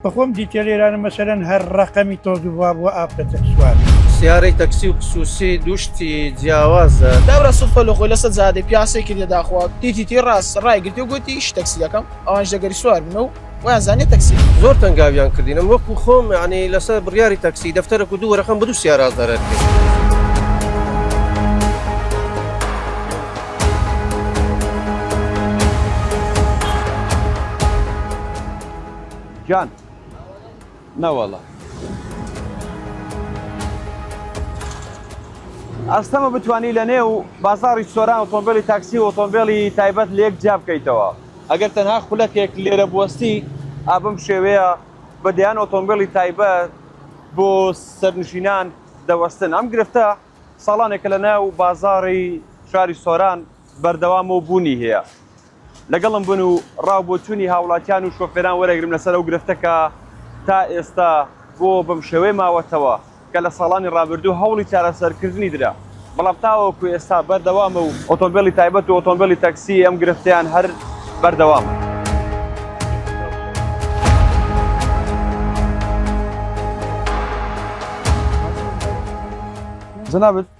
بەخۆم دیتێلێرانم مەسەلەن هەر ڕەقەمی تۆز و ڤا بووە ئافرەتەک سوار. سیارەی تەکسی و پسوسی دوو شتی جیاوازە. دابرا سوک پەلو خۆی لەسەر جادەی پیاسەی کردیە داخوا تی تی تی ڕاست ڕای گرتی و گوتی ئیشی تەکسی دەکەم ئەوانیش دەگەری سوار بن و وایان زانیە تەکسی. زۆر تەنگاویان کردین من وەکو خۆم یانی لەسەر بڕیاری تەکسی دەفتەرەک و دوو وەرەقەم بە دوو سیارا زەرەر کرد. جان نەوەڵا ئەستەمە بتانی لە نێو بازاری سۆران ئۆتۆمبیلی تاکسی و ئۆتۆمبیلی تایبەت لە یەک جیا بکەیتەوە ئەگەر تەنها خولەکێک لێرە بوەستی ئابم شێوەیە بە دەیان ئۆتۆمبیلی تایبەت بۆ سەرنشینان دەوەستن ئەم گرفتە ساڵانێکە لە ناو بازاری شاری سۆران بەردەوام و بوونی هەیە لەگەڵم بن و ڕاو بۆ چونی هاوڵاتیان و شۆفێران وەرەگرم لەسەر ئەو گرفتە کە تا ئێستا بۆ بەم شێوەیە ماوەتەوە کە لە ساڵانی ڕابردوو هەوڵی چارەسەر کردنی درا بەڵام تاوەکو ئێستا بەردەوامە و ئۆتۆمبێلی تایبەت و ئۆتۆمبێلی تەکسی ئەم گرفتیان هەر بەردەوامە. جنابت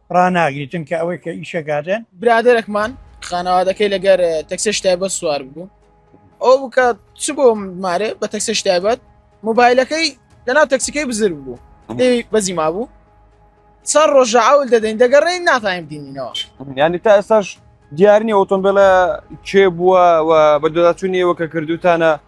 ڕاناگری چونکە ئەوەی کە ئیشەکاتێن برادێکمان خانەوادەکەی لەگەر تەکسێش تایبەت سوار بوو ئەو بکە چ بۆ مارێ بە تەکسێش تایبەت موبایلەکەی لەناو تەکسیکەی بزر بوو بەزی ما بوو سەر ڕۆژە ئەول دەدەین دەگەڕێی ناتایم دینینەوە ینی تا ئێستاش دیارنی ئۆتۆمبیلە کێ بووە بە دۆداچوونیەوە کە کردوتانە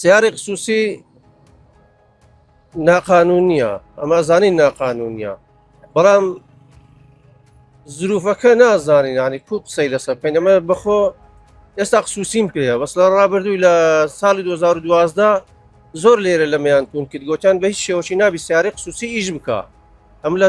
سیارەی خصوصی ناقانونیە ئەمە زانی ناقانونیە بەڵام زروفەکە نازانین ینی کو قسەی لەسەر بکەین ئەمە بەخۆ ئێستا خصوصیم پێەیە بەس لە ڕابردووی لە ساڵی 2012 زۆر لێرە لەمیان تون کرد گوتیان بە هیچ شێوەشی نابی سیارەی خصوصی ئیش بکە ئەم لە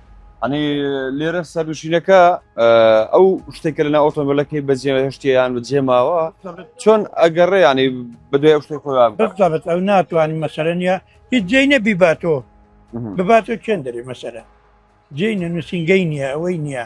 ئەنی لێرە سەرنووشینەکە ئەو شتێک کە لەنا ئۆتۆمبیلەکەی بەجێ هەشتیان بەجێ ماوە چۆن ئەگەڕێ ینی بدوێ شتێک خۆیان بەبت ئەو ناتوانانی مەسەرە نیە هیچ جێ نەبی باتۆ بباتۆ چێن دەری مەسەرە جێ نووسنگەی نییە ئەوەی نییە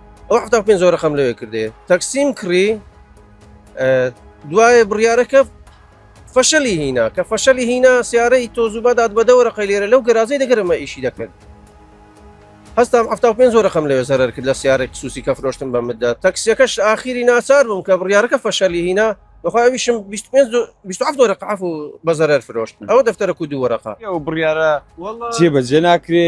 ئەو حتا پێ زۆرە خەم لەوێ کردێ تەکسیم کڕی دوایە بڕیارەکە فەشەلی هینا کە فەشەلی هینا سیارەی تۆزوبادات بەدەوەرە قەلێرە لەو گەرازەی دەگەرمە ئیشی دەکرد هەستام ه پێ زۆرە خەم لەوێ زەرەر کرد لە سیارێک سوسی کە فرۆشتم بە مدە تەکسیەکەش ئاخیری ناچار بووم کە بڕیارەکە فەشەلی هینا بەخواویشم دۆرە قعف و بەزەرەر فرۆشت ئەوە دەفتەرە کو دوو وەرەقا ئەو بڕیارە جێبەجێ ناکرێ